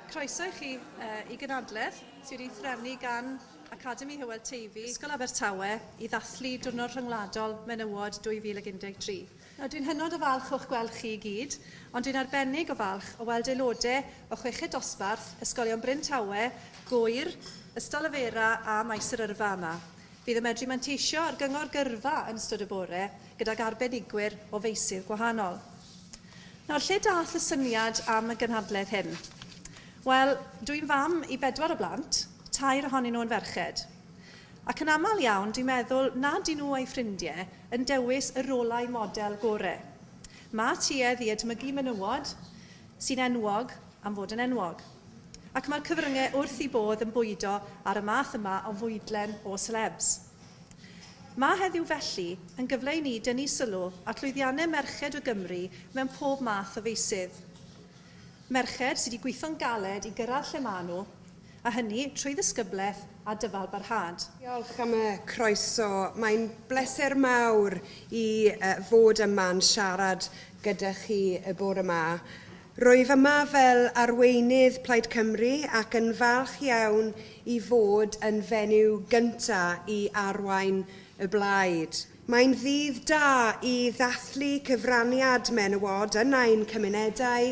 Croeso i chi i gynadledd sydd wedi'i threfnu gan Academi Hywel Teifi, Ysgol Abertawe i ddathlu Diwrnod Rhyngwladol Menywod 2013. Nawr, dwi'n hynod o falch o'ch gweld chi i gyd, ond dwi'n arbennig o falch o weld aelode o chweched dosbarth ysgolion Bryn Tawe, Gŵyr, Ystal y Fera a Maes yr Yrfa yma. Bydd yn medru manteisio ar gyngor gyrfa yn ystod y bore gydag arbenigwyr o feysydd gwahanol. Nawr, lle daeth y syniad am y gynhadledd hyn? Wel, dw i'n fam i bedwar o blant, tair ohonyn nhw yn ferched. Ac yn aml iawn dwi'n meddwl nad y'n nhw a'u ffrindie yn dewis y rolau model gore. Mae tuedd i edmygu menywod sy'n enwog am fod yn enwog. Ac mae'r cyfrynge wrth i bodd yn bwydo ar y math yma o fwydlen o selebs. Mae heddiw felly yn gyfle i ni dynnu sylw at lwyddianne merched o Gymru mewn pob math o feysydd. Merched sy' 'di gwitho'n galed i gyrradd lle mae nhw, a hynny trwy ddisgyblaeth a dyfalbarhad. Diolch am y croeso. Mae'n bleser mawr i fod yma'n siarad gyda chi y bore yma. Rwyf yma fel arweinydd Plaid Cymru ac yn falch iawn i fod yn fenyw gynta i arwain y blaid. Mae'n ddydd da i ddathlu cyfraniad menywod yn ein cymunedau,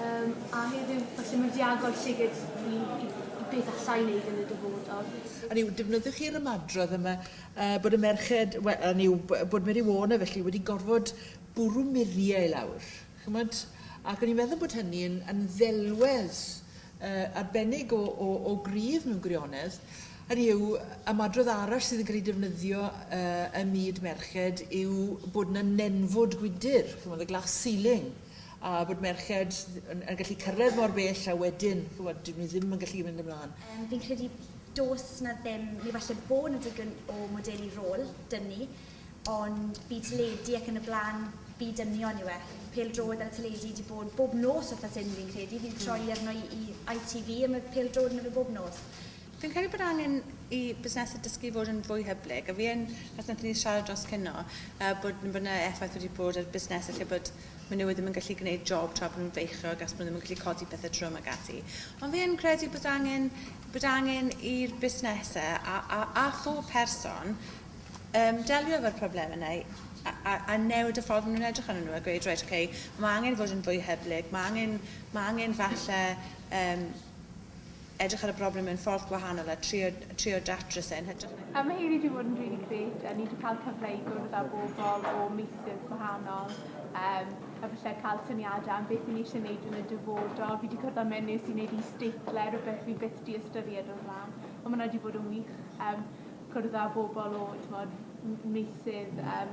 Yym, a heddiw, falle mae'n diagoll llygad i, i, i beth allai wneud yn y dyfodol. Hynny yw, defnyddiwch chi'r ymadrodd yma uh, bod y merched, well, hynny yw, bod Mary Warner felly wedi gorfod bwrw muriau i lawr. Chymod? Ac o'n i'n meddwl bod hynny yn, yn ddelwedd uh, arbennig o, o, o gryf mewn gwirionedd. Hynny yw, ymadrodd arall sydd yn cael ei defnyddio uh, ym myd merched yw bod yna nenfwd gwydr, chymod, y glass ceiling. a bod merched yn, yn gallu cyrraedd mor bell a wedyn, chwbod, dyn nhw ddim yn gallu mynd ymlaen. Um, fi'n credu dos na ddim, ni falle bod yn digon o modelu rôl, dynnu, ond byd teledu ac yn y blaen, byd dynion yw e. Pel drod ar y teledu wedi bod bob nos wrth at hyn fi'n credu, fi'n hmm. troi arno i, i ITV am y pel drod yn y bob nos. Fi'n credu bod angen i busnesau dysgu i fod yn fwy hyblyg, a fi yn, fath nath ni siarad dros cyno, uh, bod, bod yna effaith wedi bod ar busnesau lle bod menywod ddim yn gallu gwneud job tra bod nhw'n feichiog ac bod nhw ddim yn gallu codi pethau trwm ag ati. Ond fi yn credu bod angen, bod angen i'r busnesau a, a, a phob person um, delio efo'r problemau yna a, a, a newid y ffordd maen nhw'n edrych arnyn nhw a gweud, right, okay, mae angen fod yn fwy hyblyg, mae angen, mae angen falle um, edrych ar y broblem mewn ffordd gwahanol a trio, trio datrys e yn hytrach na... Am heddi wedi bod yn rili grêt a ni wedi cael cyfle i gwrdd â bobl o meysydd gwahanol um, a falle cael syniadau am beth i ni eisiau gwneud yn y dyfodol. Fi wedi cwrdd â menyw sy'n gwneud i stapler o beth fi byth di ystyried o'r blaen, ond mae hwnna wedi bod yn wych. Um, cwrdd â bobl o tmod, meysydd um,